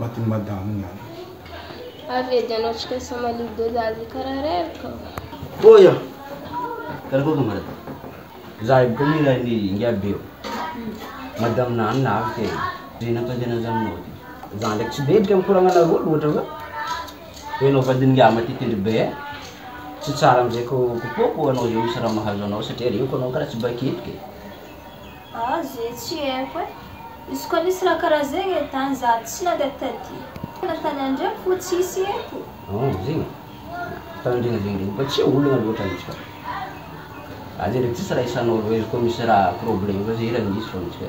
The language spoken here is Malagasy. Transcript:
matin'i madamo ny ahy. Avy edy ianao tsy maintsy samalio doza azy karaha reraka ô. Tohizo! Karakory no marary? Za io boka niray ny ingabe ô. Madamo na anona avy kay e. Ze nampandeha anazy aminao ty. Za ndraiky tsy dedika am koragnanareo loatra fa toa ianao vadin'ingahy matitindry be eh. Tsy tsara amizay ko kopoako anao zay misy raha mahazo anao satria aleko anao karaha tsy bakitiko e. Ah ze tsy haiko eh. Izy koa nisy raha karaha zegny eh dany za tsy nandeha taty. Fanontania ndray fo tsisy eto. Hum zegny e. Fitandrina zegny ndray mba tsy olagna loatra mintsy ka. Aza ndreky tsisy raha isanao loha izy koa misy raha problème koa ze hira misy fô mintsy ka.